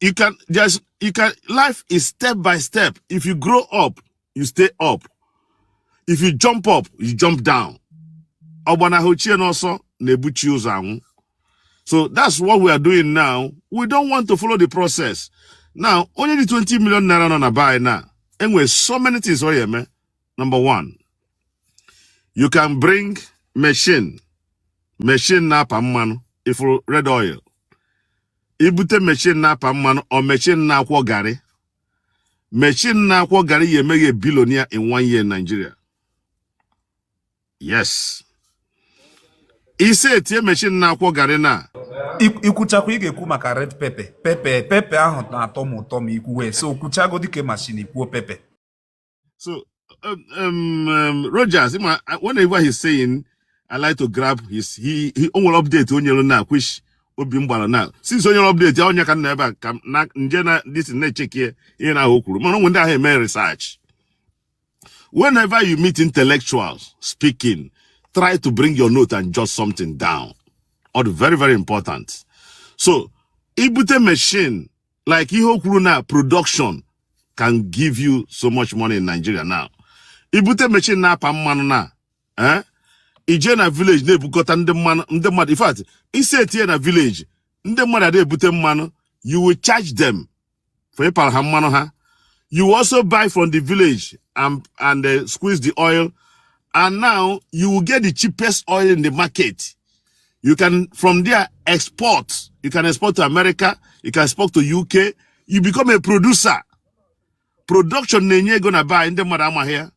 you can just you can life is step by step if you grow up you stay up if you jump up you jump down ọgbanahụ chi ya n'ọsọ na-ebu chi ya ụzọ anwụ so that's what we are doing now we don't want to follow the process now onye ji 20 million naira nọ na buy na enwere so many things ọ ya eme number one you can bring machine machine na-apa mmanụ ị fụrụ red oil i bute machine na-apa mmanụ or machine na-akwọ garị machine na-akwọ garị ya eme gị billionaire in one year Nigeria yes i setie machine na-akwọ garị na i kwuchakwa ị ga-ekwu maka red pepe pepe pepe ahụ na-atọ m ụtọ ma i kwuwe so kwuchagodi nke machine i kwuo pepe So, um, um, um Rogers, whenever he's saying, I like to grab his, he, o nwere update o nyere now, which obi m gbara na since onye update ya onye ka nna ebe a ka na nje na this na-echeke ihe na ahụ kwuru mana o nwe ndị ahụ eme research whenever you meet intellectuals speaking try to bring your note and jot something down o. Very, very important. So, i bute machine like ihe o kwuru na production can give you so much money in Nigeria now i bute machine na-apa mmanụ now eh? i je na village na-ebukọta ndị mmanụ ndị mmadụ in fact i setie ya na village ndị mmadụ ada ebute mmanụ you will charge them for ịpara ha mmanụ ha you will also buy from the village and, and uh, squeeze the oil and now you will get the cheapest oil in the market You can, from there, export. You can export to America. You can export to UK. You become a producer. Production na-enye ego now but ndị mmadụ amaghị ya.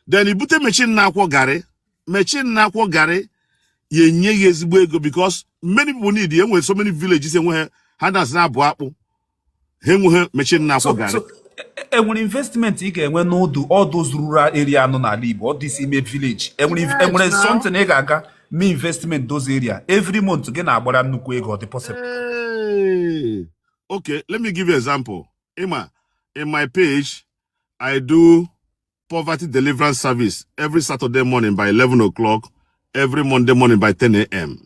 Then i bute machine na-akwọ garị. Machine na-akwọ garị ya enye gị ezigbo ego because many people need ya enwere so many villages enwe ihe ha na-esi na-abụ akpụ. ha enweghị machine na-akwọ garị enwere investment ị ga-enwe na all the all those rural area nọ n'ala Igbo all these ime village enwere something ị ga-aga mee investment those area every month gị na-agbara nnukwu ego ọ dị possible okay let me give you example ị ma in my page I do Poverty Deliverance Service every Saturday morning by 11 o'clock, every Monday morning by 10 a.m.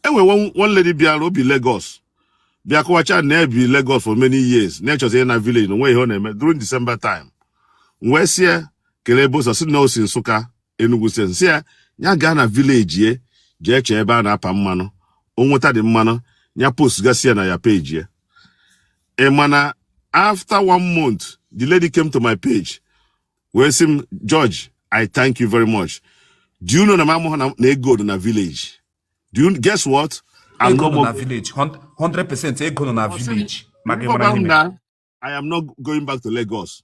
enwe one, one lady bịara o bi Lagos bịa kọwacha na ya bi Lagos for many years na-echọzi na village na o nwe ihe ọ na-eme during December time wee sị ya kelee ebe i si ọ sị na o si Nsụka Enugu State sị ya ya gaa na village ya jee chọọ ebe a na-apa mmanụ o nweta dị mmanụ ya post gasị ya na ya page ya ị ma na after one month the lady came to my page wee sị m George I thank you very much do you know na m amaghị na na ego nọ na village do you guess what I'm ego no nọ more na village Hun- 100% ego nọ na village maka ịmara Ngwa gwa m ihe mere na I am not going back to Lagos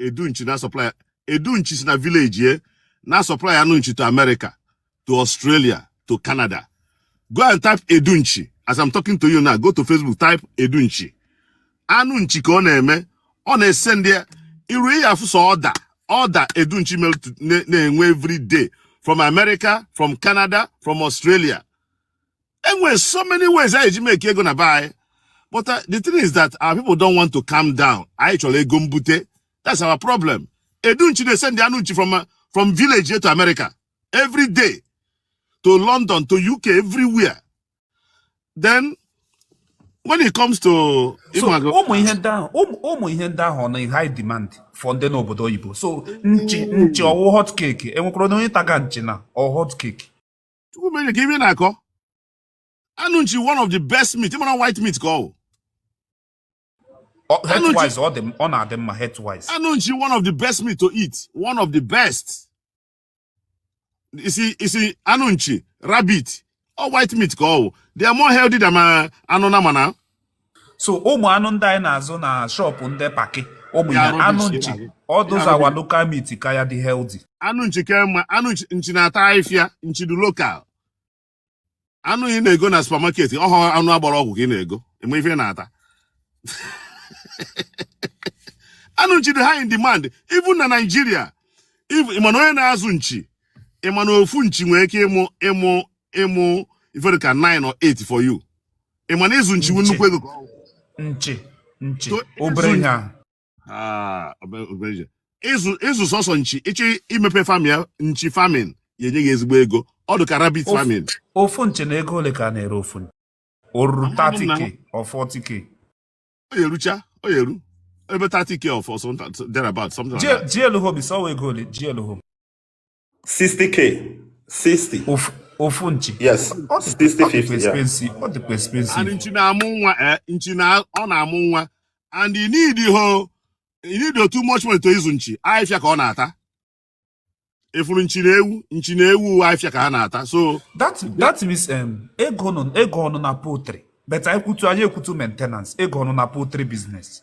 Edu nchi na supply Edu nchi si na village ye na-asupply anụ nchi to America to Australia to Canada go and type Edu nchi as I'm talking to you now go to Facebook type Edu nchi anụ nchi ka ọ na-eme ọ na-esendi iru ihe afụ so order order Edu nchi na-enwe every day from America from Canada from Australia e nwere so many ways anyị ji make ego na be anyị but uh, the thing is that our people don't want to calm down anyị chọrọ ego mbute that's our problem edu nchi na-esendi anụ nchi from uh, from village to America every day to London to UK everywhere then when it comes to ụmụ ihe ndị ahụ ụmụ ihe ndị ahụ na high demand for ndị n'obodo oyibo so nchi nchi ọ wụ hot cake e nwekwara onye taga nchi na ọ hot cake chukwu mere ka ime na-akọ anụ nchi one of the best meat ị ma na white meat ka ọ wụ health-wise ọ dị ọ na-adị mma health-wise anụ nchi one of the best meat to eat one of the best isi isi anụ nchi rabbit ọ white meat ka ọ wụ they are more healthy than uh, anụ nama na so ụmụ anụ ndị anyị na-azụ na shop ndị pack ụmụ ya anụ nchi all those our local meat ka ya dị healthy anụ nchi ka mma anụ nchi na-ata ahịfịa nchi dị local anụ ị na-ego na supermarket ọ wụ anụ a gbara ọgwụ ka ị na-ego enwe ife na-ata anụ nchi dị high in demand even na Nigeria ị ma na onye na-azụ nchi ị ma na ofu nchi nwere ike ịmụ ịmụ ịmụ ife dị ka 9 or 8 for you ị ma na ịzụ nchi bụ nnukwu ego ka ọ wụ nchi nchi So, obere ịzụ- ihe ahụ Ah, obere- obere ihe. ịzụ ịzụ sọsọ nchi ị chọọ imepe farm ya nchi farming ya enye gị ezigbo ego ọ dị ka rabbit Of- farming ofu nchi na ego ole ka a na-ere ofu nchi o ruru Amaghị m na- 30k or 40k ọ ya erucha ọ ya eru ebe 30k of or something thereabout something like that. GL Hobby sọwa ego ole GL Hobby 60k 60 ofu nchi yes 60 ọ dịkwa expensive and nchi na-amụ nwa eh, nchi ọ na-amụ nwa and ị needihọ ị need too much money to ịzụ nchi ahịfịa ka ọ na-ata ị fụrụ nchi na ewu nchi na ewu ahịfịa ka ha na-ata so that that means um, ego nọ ego nọ na poultry but anyị kwutu anyị ekwutu maintenance ego nọ na poultry business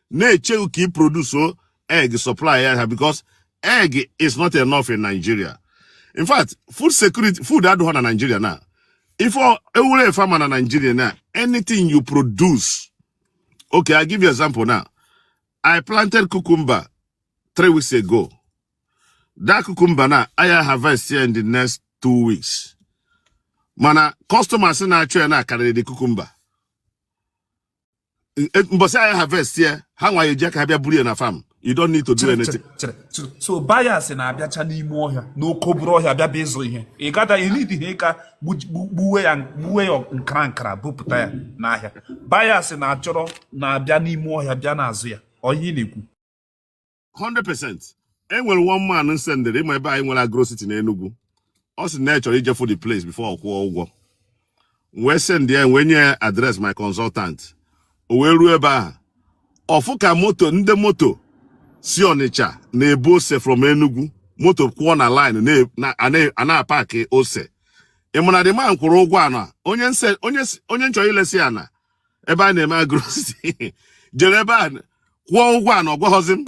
na-eche gị ka ị produce o egg supply ya ha because egg is not enough in Nigeria in fact food security food adịghọ na Nigeria na ife ewure efe ama na Nigeria na anything you produce okay I give you example now I planted cucumber three weeks ago that cucumber anyị harvest ya in the next two weeks mana customers na-achọ ya now karịrị the cucumber e, mbọsị anyị harvest ya ha nwa eji aka ha bịa buru ya na farm you don't need to do anything. so buyers na-abịacha n'ime ọhịa n'oke obere ọhịa bịa bịa ịzụ ihe ị gada ineed ihe ka ị buwe ya buwe ya nkara nkara bupụta ya n'ahịa buyers na-achọrọ na-abịa n'ime ọhịa bịa na-azụ ya ọ ihe ị na-ekwu 100% enwere one man m sendịrị ị ma ebe anyị nwere agro city n'Enugu ọ sị na ya chọrọ ije fụ the place before ọ kwụọ ụgwọ m wee send ya wee nye ya address my consultant o wee ruo ebe ahụ ọ fụ ka moto ndị moto si Ọnịcha na-ebu ose from Enugu moto kwụọ na line a na-apakị ose ị ma na the man kwụrụ ụgwọ ana onye m chọrọ ilesi ana ebe a na-eme agro city jere ebe a kwụọ ụgwọ ana ọ gwaghọzi m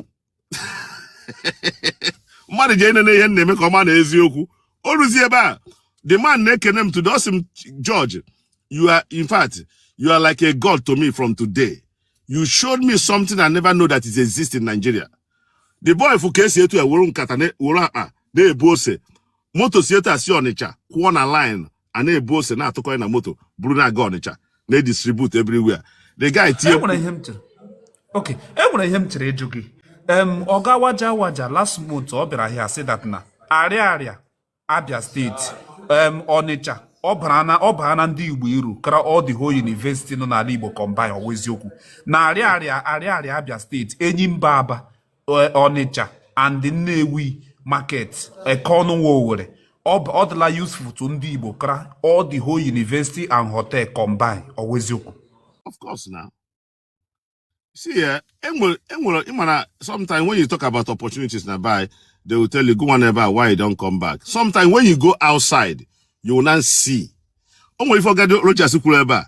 mmadụ jee nene ihe m na-eme ka ọ ma na eziokwu o ruzi ebe a the man na-ekene m today ọ sị m George you are in fact you are like a god to me from today you showed me something I never know that it exists in Nigeria the boy fụ ka esi etu a were nkata na- were akpa na-ebu ose moto si etu a si Ọnịcha kwụọ na line a na-ebu ose na-atụkọ ya na moto buru na-aga ọnịcha na-edistribute everywhere the guy tie enwere ihe m chọrọ ok enwere ihe m chọrọ ịjụ gị ọga waja waja last month ọ bịara here sị that na Ariaria Abia State ọnịcha ọ baarana ndị Igbo uru kara all the whole university nọ n'ala Igbo combine ọ wụ eziokwu na Ariaria Ariaria Abia State Enyimba Aba eh, Onitsha and Nnewi market Ekeọnụwa Owerri ọ dịla useful to ndị Igbo kara all the whole university and hotel combine ọ wụ eziokwu of course na see eh, enwere enwere ị mara sometimes when you talk about opportunities na be anyị they will tell you go one ever why you don come back sometimes when you go outside you will not see o nwere ife ọgadi Rochas kwuru ebe a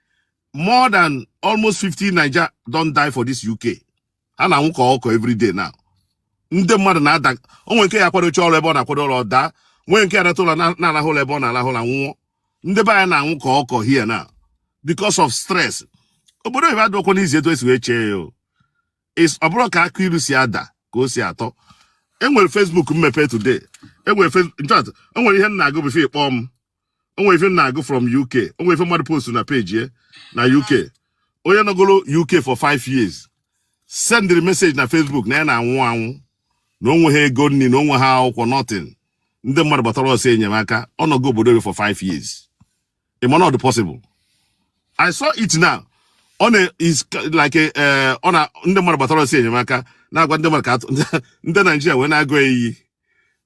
more than almost 50 Naija don die for this UK ha na-anwụ ka ọkụkọ every day now ndị mmadụ na-ada o nwee nke ga-akwadocha ọrụ ebe ọ na-akwado ọrụ daa nwee nke alata ụlọ na-arahụ ụla ebe ọ na-arahụ ụla nwụọ ndị be anyị na-anwụ ka ọkụkọ here now because of stress obodo oyibo adịkwa easy etu esi wee chee ya ọ bụrọ ka akụ ilu si ada ka o si atọ enwere Facebook m mepe today enwere enwere ihe m na-agụ before ị kpọọ m o nwe ife m na-agụ from UK o nwe ife mmadụ post na peji ya na UK onye nọgoro UK for 5 years sendịrị meseji na Facebook na ya na-anwụ anwụ na o nweha ego nri na o nweha akwụkwọ nothing ndị mmadụ gbatara ọsọ enyemaka ọ nọgo obodo ebe for 5 years ị ma na ọ dị possible I saw it now ọ na is like a, eh, ọ na ndị mmadụ gbatara ọsọ enyemaka na-agwa ndị mmadụ ka a tụọ ndị Naijiria wee na-agụ ya iyi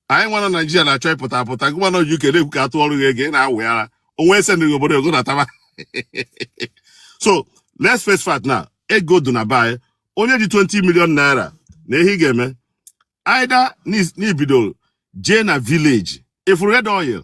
anyị nwa na naijiria na-achọ ịpụta apụta gịwa nọ uk na-ekwu ka a tụọrọ gị ego ị na-awị ara o nwe ese na obodo ego na-ataba so let's face fact na ego dị na be anyị onye ji 20 million naira na ihe ị ga-eme either na i bidoro jee na village ị fụrụ red oil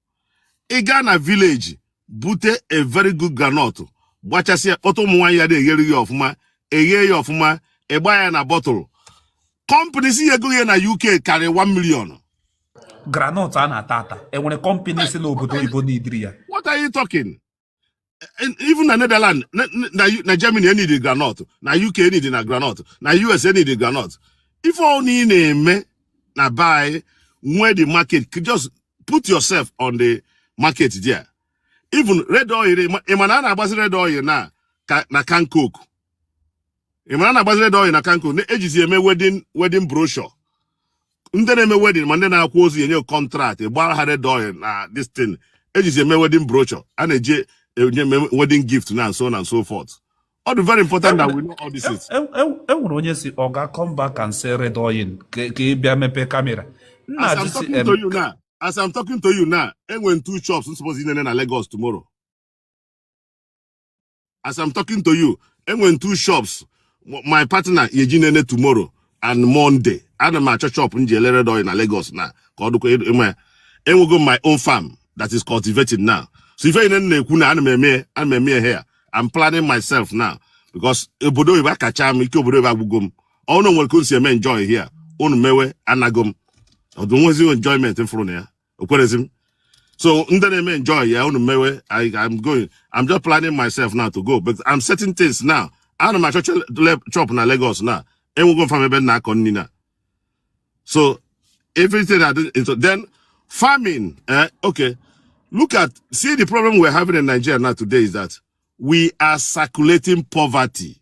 ị gaa na vileji bute a very good granọt gbachasị ya kpọta ụmụ nwaanyị ya na-eghere gị ọfụma e ghee ya ọfụma ị gbaa ya na bọtụlụ kọmpani si ya ego ya na uk karịrị 1 million granọt a na-ata ata e nwere kọmpani si n'obodo oyibo niidiri ya what are you talking even na Netherlands na Germany e niidi granọt na UK e niidi na granọt na US e niidi granọt ife ọ bụna ị na-eme na be anyị nwee the market just put yourself on the market there even red oil ị ma na a na-agbazi red oil na na can coke ị mara a na-agbazi red oil na can coke e jizi eme wedin wedin broshọ ndị na-eme wedin ma ndị na-akwa ozu e nye kọntraktị gbaara ha red oil na destin e jizi eme wedin broshọ a na-eji enye wedin gift and so and so forth ọ dị very important that we know all these things. e nwere onye sị ọ ga come back and say red oil ka ị bịa mepee kamera as i'm talking to you now as i'm talking to you now e nwere two shops suppose inene na Lagos tomorrow as I'm talking to you e nwere two shops my partner ya-eje inene tomorrow and Monday ana m achọ shop m ji ele red oil na Lagos na ka ọ dịkwa ị ma ya enwego m my own farm that is cultivated now so ife niine m na-ekwu na ana m eme ana m eme ya here I'm planning myself now because obodo oyibo akacha m ike obodo oyibo agwụgo m ọnụ nwere ka o si eme enjoy here unu mewe anago m ọdụ nwezi enjoyment m fụrụ na ya okwerezi m so ndị na-eme enjoy ya unu mewe I, I'm going I'm just planning myself now to go but I'm setting things now ana m achọ chọp na Lagos na enwego mfam ebe m na-akọ nri na so everything I do so then farming eh, okay look at see the problem we're having in Nigeria now today is that we are circulating poverty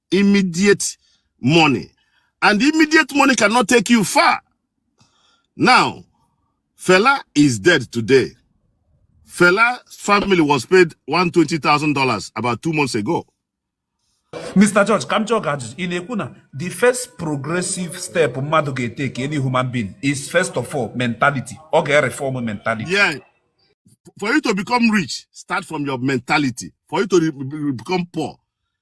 immediate money and immediate money cannot take you far now Fela is dead today Fela family was paid $120,000 about two months ago Mr. George ka m jụọ gị ajụjụ ị na-ekwu na the first progressive step mmadụ ga-eteke any human being is first of all mentality ọ ga-reform mentality yeah. for you to become rich start from your mentality for you to become poor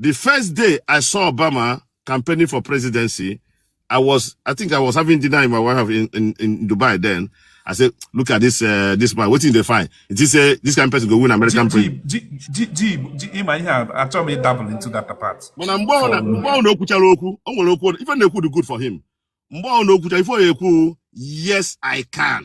The first day I saw Obama campaigning for presidency, I was, I think I was having dinner with my wife in, in, in Dubai then. I said, look at this uh, this man. Wetin e dey find? Did he say this kind person go win American president? Ị ma ihe a achọghị m ịdabụl into that part. Mana mgbe ọ na o kwuchara okwu, o nwere okwu ife na-ekwu dị good for him. Mgbe ọ na o kwuchara ife ọ na-ekwu yes I can.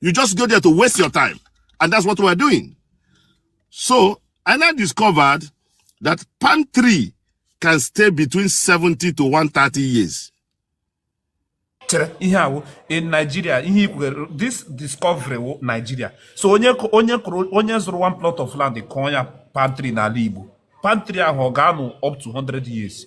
You just go there to waste your time. And that's what we're doing. So I now discovered that palm tree can stay between 70 to 130 years. chere ihe awụ in Nigeria ihe ikwughere this discovery wụ Nigeria so onye onye kụrụ onye zụrụ one plot of land kụọ ya palm tree n'ala Igbo palm tree ahụ ọ ga-anọ up to 100 years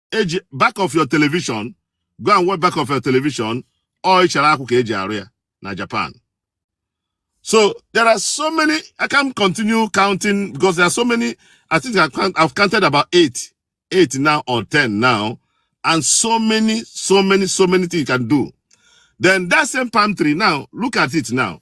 eji back of your television go and watch back of your television ọ ịchara akwụ ka eji arụ ya na Japan so there are so many I can continue counting because there are so many I think I've counted about eight eight now or ten now and so many so many so many things you can do then that same palm tree now look at it now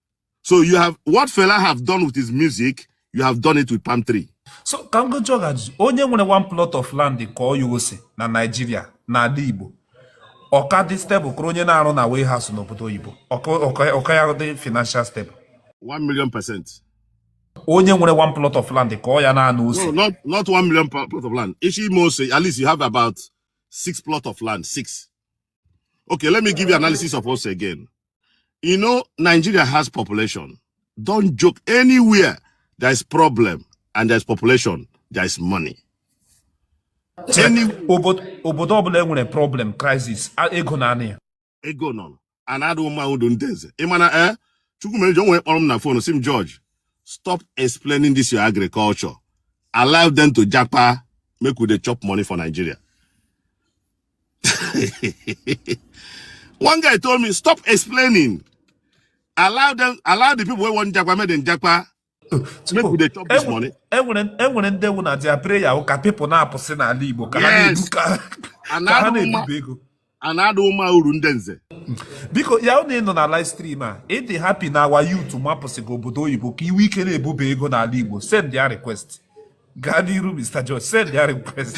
so you have what Fela have done with his music you have done it with palm tree so ka ngoji ọgaji onye nwere one plot of land kọọ ya ose na Naịjirịa n'ala Igbo ọ ka dị stable karịa onye na-arụ na warehouse n'obodo oyibo ọ ka ya dị financial stable 1 million percent onye nwere one plot of land kọọ ya naanị ose no not not 1 million plot of land ị chọọ ime ose at least you have about six plot of land six Okay, let me give you analysis of ose again. You know, Nigeria has population. Don't joke. Anywhere there is problem and there is population, there is money. Any obodo ọbụla e nwere problem crisis ego na-adị ya. Ego nọ ana adị mma uru ndị nze. Ị ma na ee eh, Chukwumerejo nwere kpọrọ m na fon sị m George stop explaining this your agriculture. Allow them to japa make we dey chop money for Nigeria. one guy told me stop explaining allow them allow the people wey wan japa make dem japa make we dey chop this money. e nwere e nwere ndị ọ wụ na their prayer wụ ka people na-apụsị n'ala igbo ka ha na-ebu ka ha na-ebuba ego ana adị mma uru ndị nze biko ya wụ na ị nọ na live stream a ị dị happy na our youth mapụsịga obodo oyibo ka i nwee ike na-ebuba ego n'ala igbo send ya request gaa n'iru mr george send ya request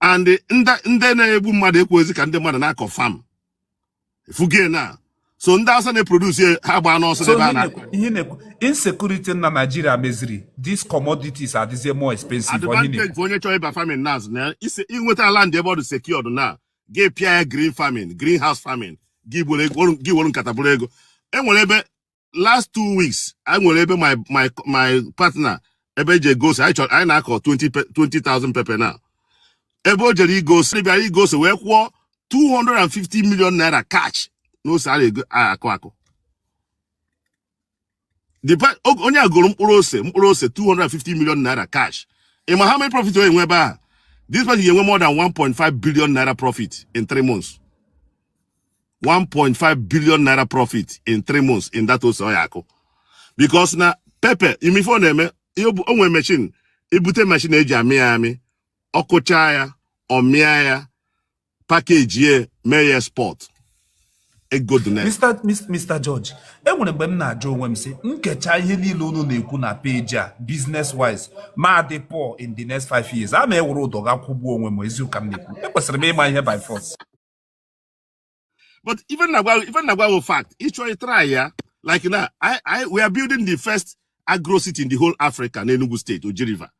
and ndị na-egbu mmadụ ekwezi ka ndị mmadụ na-akọ farm ị fụgo na sọ ndị Hausa na-eproduce ha gbaa n'ọsọ ebe a na-akọ ihe na-ekwu insecurity na Nigeria meziri these commodities adịzie more expensive advantage onye chọrọ ịba farming na na i nweta land ebe ọ dị secured na gị pịa ya green farming green house farming gị were nkata buru ego e nwere ebe last two weeks anyị nwere ebe my my my partner ebe e ji ego ose anyị na-akọ 20,000 pepper n'ebe o jere igo ose bịara igo ose wee kwụọ 250 million naira cash n'ose a na-akụ akụ onye a goro mkpụrụ ose mkpụrụ ose 250 million naira cash ị ma how many profit onye nwe ebe a this person ga-enwe more than 1.5 billion naira profit in 3 months 1.5 billion naira profit in 3 months in that ose ọ ya-akụ because na pepper ị ma ife ọ na-eme o nwere machine i bute machine e ji amị ya amị ọ kụcha ya ọ mịa ya package ya mee ya export ego dị na Mr. Mis- Mr. George e nwere mgbe m na-ajụ onwe m sị m gecha ihe niile unu na-ekwu na page a business wise ma dị poor in the next five years a ma ewere ụdọ ga kwụgbuo onwe m eziụka m na-ekwu ekwesịrị m ịma ihe by force but ife m na-agwa gị fact ị chọọ ịtry ya like now I, we are building the first agro city in the whole Africa na Enugu State Oji River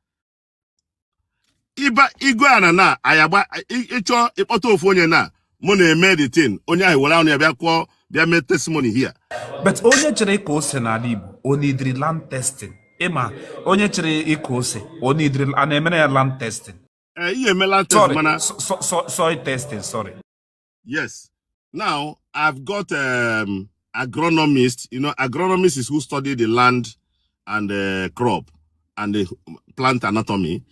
ịba igwe ana na ayagba ị chọọ ịkpọta ofu onye na mụ na-eme the thing onye ahụ were ọnụ ya bịa kwuo bịa mee testimony here. but onye chọrọ ịkọ ose n'ala Igbo o needịrị land testing ị ma onye chọrọ ịkụ ose o needịrị a na-emere ya land testing ee eh, ihe emela test mana soil testing sorry yes now i've got um, agronomist you know agronomist is who study the land and the crop and the plant anatomy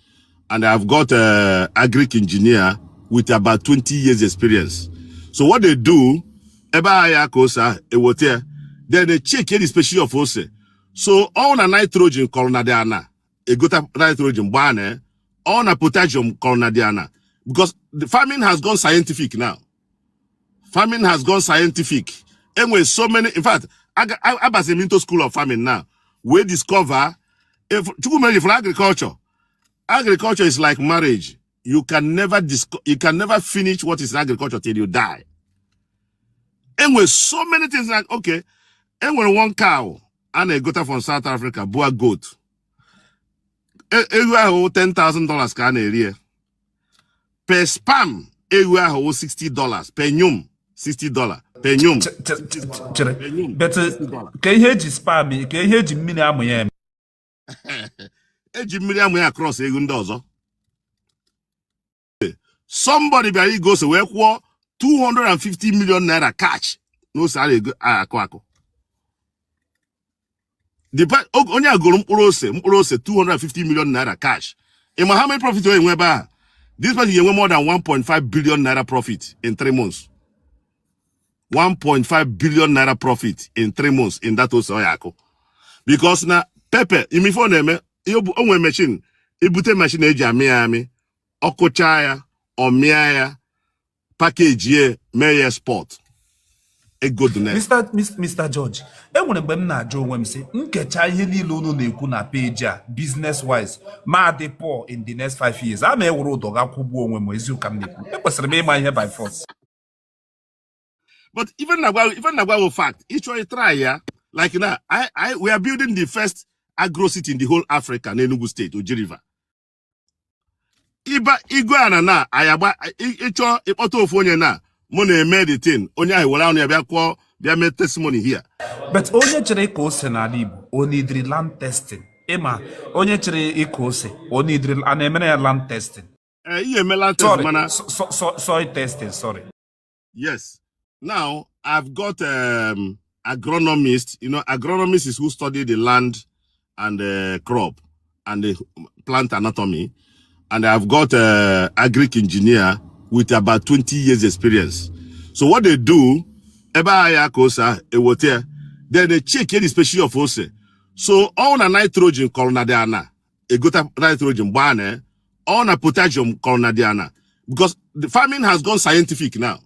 and i've got a uh, agric engineer with about 20 years experience so what they do ebe ahịa ka ose ahụ ewote ya then they check any species of ose so all na nitrogen kọrọ na dị ana e gota nitrogen gbaa na ọ na potassium kọrọ na the ana because the farming has gone scientific now farming has gone scientific e nwere so many in fact abaziri m into school of farming now wee discover Chukwu mere for agriculture agriculture is like marriage you can never disco you can never finish what is in agriculture till you die e nwere so many things like okay e nwere one cow a na-egota from South Africa Boer goat e, ewu ahụ 10,000 dollars ka a na-ere ya per sperm ewu ahụ 60 dollars per nyum 60 dollars per nyum chere but ka ihe e ji sperm ka ihe e ji mmiri amụ ya eme e ji mmiri amụ ya cross ewu ndị ọzọ somebody bịara igo ose wee kwụọ 250 million naira cash na ose a na-ego akụ akụ onye a goro mkpụrụ ose mkpụrụ ose 250 million naira cash ị ma how many profit ọ ya-enwe ebe a this person ga-enwe more than 1.5 billion naira profit in 3 months 1.5 billion naira profit in three months in that ose ọ ya-akụ because na pepper ị ma ife ọ na-eme o nwere machine i bute machine e ji amị ya amị ọ kụcha ya ọ mịa ya package ya mee ya export ego dị na ya. Mr. Mis- Mr. George e nwere mgbe m na-ajụ onwe m sị m gecha ihe niile unu na-ekwu na page a business wise ma dị poor in the next five years a ma ewere ụdọ ga kwụgbuo onwe m eziụka m na-ekwu ekwesịrị m ịma ihe by force but ife m na-agwa gị fact ị chọọ ịtry ya like now I, I, we are building the first agro city in the whole Africa n'Enugu State Oji River ịba igwe ana na ayagba ị chọọ ịkpọta ofu onye na mụ na-eme the thing onye ahụ were ọnụ ya bịa kwuo bịa mee testimony here. but onye chọrọ ịkọ ose n'ala Igbo o needịrị land testing ị ma onye chọrọ ịkụ ose o needịrị a na-emere ya land testing ee eh, ihe emela test mana soil testing sorry yes now i've got um, agronomist you know agronomist is who study the land and the crop and the plant anatomy and i've got a uh, agric engineer with about 20 years experience so what they do ebe ahịa ka ose ewote then they check any species of ose so all na nitrogen kọrọ na dị ana egota nitrogen gbaa na ya ọ na potassium kọrọ na dị ana because the farming has gone scientific now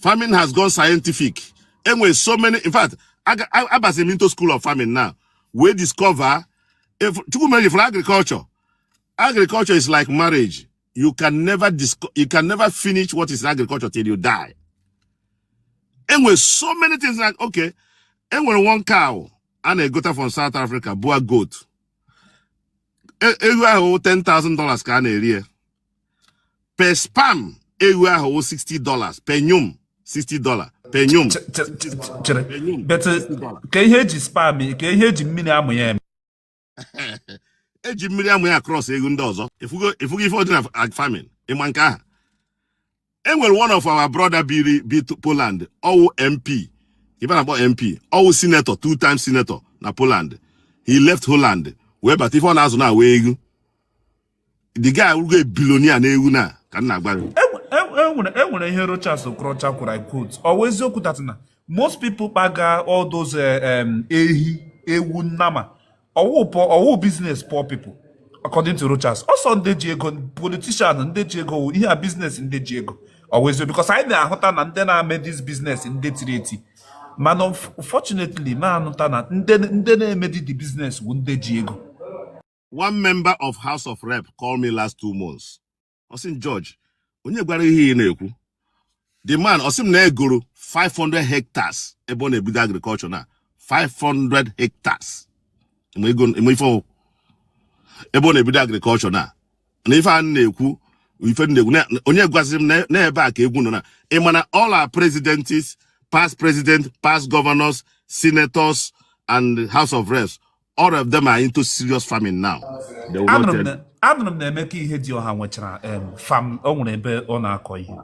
farming has gone scientific enwere so many in fact aga- a- abasịrị m into school of farming now wee discover if chukwu mere for agriculture agriculture is like marriage you can never disco- you can never finish what is in agriculture till you die enwere so many things like okay enwere one cow a na-egota from South Africa Boer goat e, ewu ahụ 10,000 dollars ka a na-ere ya per sperm ewu ahụ 60 dollars per nyum 60 dollars per nyum chere kee ihe e ji sperm kee ihe eji mmiri amụ ya eme eji mmiri amụ ya a-cross ewu ndị ọzọ ịfụgo ife ọ dị na farming ịma nke aha e nwere one of our brother biri bi Poland ọwụ MP ife a na-akpọ MP ọwụ senator two times senator na Poland he left Holland wee bata ife ọ na-azụ now wụ ewu the guy will get billionaire n'ewu now ka m na-agwa gị enwere e, e, e enwere ihe Rochas Okorocha kwuru I quote ọ wụ eziokwu that na most people kpaga all those eh, um, ehi ewu nnama ọwụ business poor people according to Rochas ọ sị ndị ji ego politician ndị ji ego ihe a business ndị ji ego ọ wụ eziokwu because anyị na-ahụta na ndị na-ame this business ndị tiri eti mana unfortunately ma ahụta na ndị na-emedi the business bụ ndị ji ego one member of House of Rep called me last two months ọ sị George onye gwara ihe ị na-ekwu the man ọ sị m na egoro 500 hectares ebe ọ na-ebido agriculture na 500 hectares eme ife ọwụ ebe ọ na-ebido agriculture na na ife a na-ekwu ife na-ekwu onye gwaziri m na ebe a ka ego nọ na ị ma na all our presidents past president past governors senators and house of reps all of them are into serious farming now They will not Anụrụ m tell na- anụrụ m na Emeka Ihedioha nwechara em, farm o nwere ebe ọ na-akọ ihe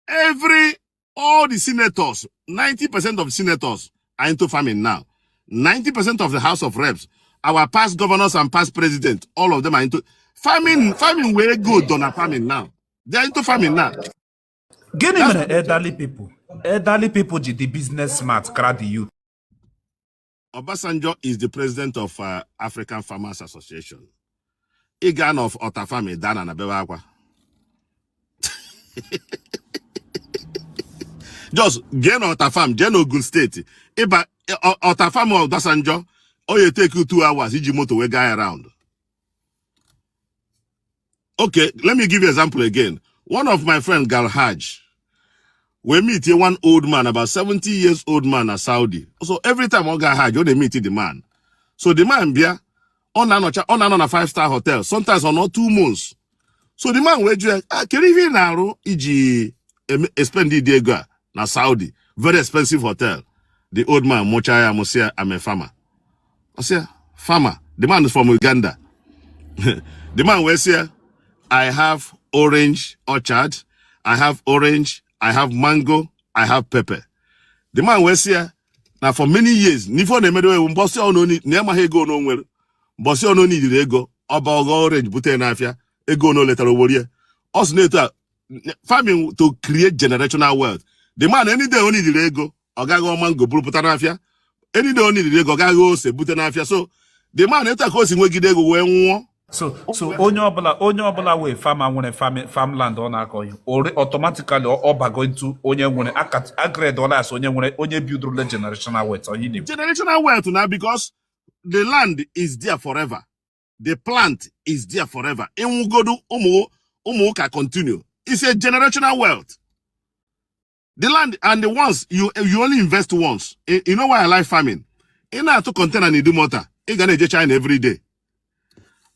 every all the senators 90% of senators are into farming now 90% of the house of reps our past governors and past president all of them are into farming farming were good done at farming now they are into farming now gịnị That's mere elderly people elderly people ji dị business smart kara the youth Obasanjo is the president of uh, African Farmers Association. Ị gaa na Ọta Farm ị daa n'ana bewe akwa. Just jee na Ọta Farm jee na Ogun State ị baa Ọta Farm Obasanjo ọ ya-take you two hours iji moto wee gaa around. okay let me give you example again one of my friend gal hajj we meet here one old man about 70 years old man at saudi so every time ọ ga hajj ọ na-meet the man so the man bịa ọ na-anọcha ọ na-anọ na five star hotel sometimes ọ nọ two months so the man wee jụ ya "Ah, kedu ihe ị na-arụ iji e-expend ụdị ego a na Saudi very expensive hotel the old man mụchaa ya amụ sị ya I'm a farmer ọ sị ya farmer the man is from Uganda the man wee sị ya I have orange orchard, I have orange, I have mango, I have pepper. The man wee sị ya, na for many years n'ife ọ na-eme wụ mbọsị ọnụ na ịmaghị ego ono nwere mbọsị ọnụ ọ na-ejirọ ego ọ baa ghọ orange bute n'afịa ego ọnụ o letara o worie ọ sị na-eto a farming to create generational wealth the man any day ọ na-ejirọ ego ọ gaa ghọ mango buru pụta n'afịa any day ọ na-ejirọ ego ọ gaa ghọ ose bute n'afịa so the man etu a ka o si nwegide ego wee nwụọ so so onye ọbụla onye ọbụla wụ fama nwere farmland ọ na-akọ ihe oriri automatically ọ bago into onye nwere agred ọlas onye nwere onye bidoro generational wealth onye na generational wealth na because the land is there forever the plant is there forever ị nwụgodu ụmụ ụmụ gị a-continue is a generational wealth the land and the ones you you only invest once you, you know why I like farming ị na-atụ kọntena na idumota ị ga na-eje China every day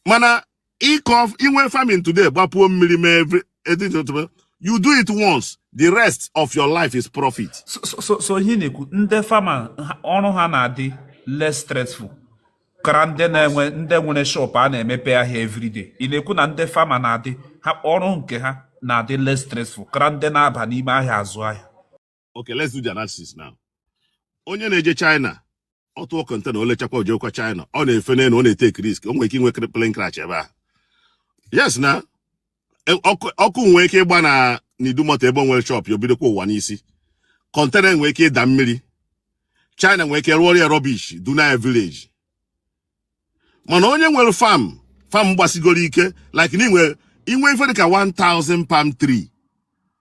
mana ị kọ i nwee farming today gbapuo mmiri mee every you do it once the rest of your life is profit. so so so ị na-ekwu ndị fama ọrụ ha na-adị less stressful kara ndị na-enwe ndị nwere shop a na-emepe ahịa everyday ị na-ekwu na ndị fama na-adị ha ọrụ nke ha na-adị less stressful kara ndị na-aba n'ime ahịa azụ ahịa okay let's do the analysis now onye na-eje China ọ tụọ kọntena o lechakwa o jekwa China ọ na-efe n'elu ọ na-eteki risk o nwere ike inwe plane crash ebe a yes na e, ọkụ nwee ike ịgba na n'idumọta ebe o nwere shọpụ ya o bidokwa ụwa n'isi kọntena nwee ike ịda mmiri china nwee ike rụọrọ ya rọbish dunaa ya vileji mana onye nwere fam fam gbasigoro ike like na i nwee i nwee ife dịka 1000 palm tree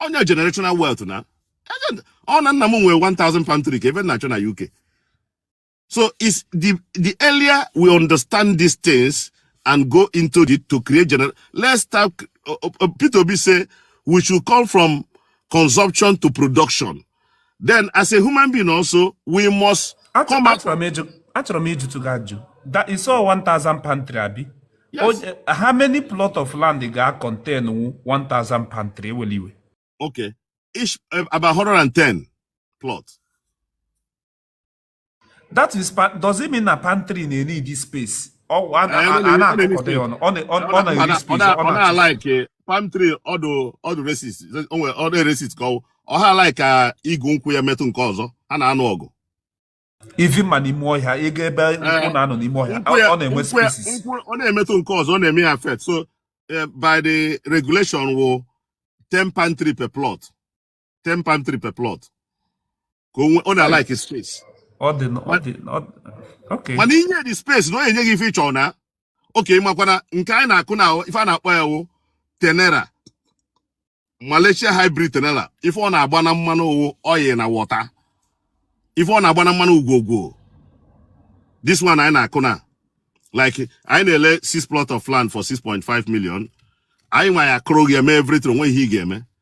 onye generational wealth na ọ na mụ nwee 1000 palm tree kee ife m na-achọ na UK so is the the earlier we understand these things and go into it to create general let's start uh, uh, Peter Obi say we should come from consumption to production then as a human being also we must come out achọrọ m ịjụtụ gị ajụ that is all 1000 pantry abi yes. how many plot of land ga contain 1000 pantry ewele iwe okay each eh, about 110 plot that is pa- does it mean na palm tree na-need space ọ a- a- Anyị a- a anaghị- na-akụkọdo ya ọnụ ọ na- ọ- ọ na-eri ọ space ọ na-achụ na-alaiki palm tree ọ dụ ọ dụ racist onwe ọ dụ racist ka ọ ọ ha alaiki ka igu nkwụ ya metụ nke ọzọ ha na-anụ ọgụ even ma n'ime ọhịa ị gaa ebe nkwụ na-anọ n'ime ọhịa nkwụ ya ọ na-enwe nkwụ ya spaces nkwụ ọ na-emetụ nke ọzọ ọ na-eme ya affect so eh, by the regulation wụ 10 palm tree per plot 10 palm tree per plot ka ọ na-alike space mana i nye ya space na ọ na-enye gị ife ị chọ na okay ị makwa na nke anyị na-akụ na ife a na-akpọ ya wụ tenera Malaysia hybrid tenera ife ọ na-agba na mmanụ ọ wụ oil na wọta ife ọ na-agba na mmanụ ugwogwo this one anyị na-akụ na like anyị na-ele six plot of land for 6.5 million anyị nwa ya-akụrụ gị eme everything o nwee ihe ị ga-eme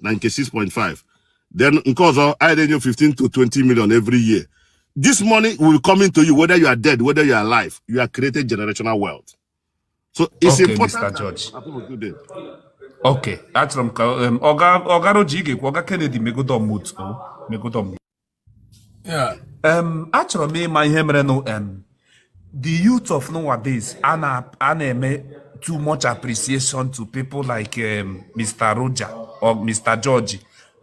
na nke 6.5 then nke ọzọ anyị na-enye 15 to 20 million every year this money will come into you whether you are dead whether you are alive you are creating generational wealth so it's okay, important Mr. George. okay achọrọ m ka ọga ọga Roger ị ga-ekwu ọga Kennedy megodo mute megodo achọrọ m ịma ihe merenụ the youth of nowadays a na-eme too much appreciation to people like Mr. Roger or Mr. George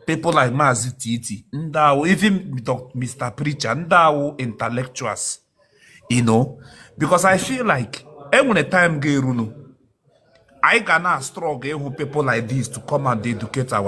people like Maazị Titi ndị a wụ even Mr. Preacher ndị a wụ intellectuals you know because I feel like e nwere time ga-erunu anyị ga na struggle ịhụ people like this to come and educate our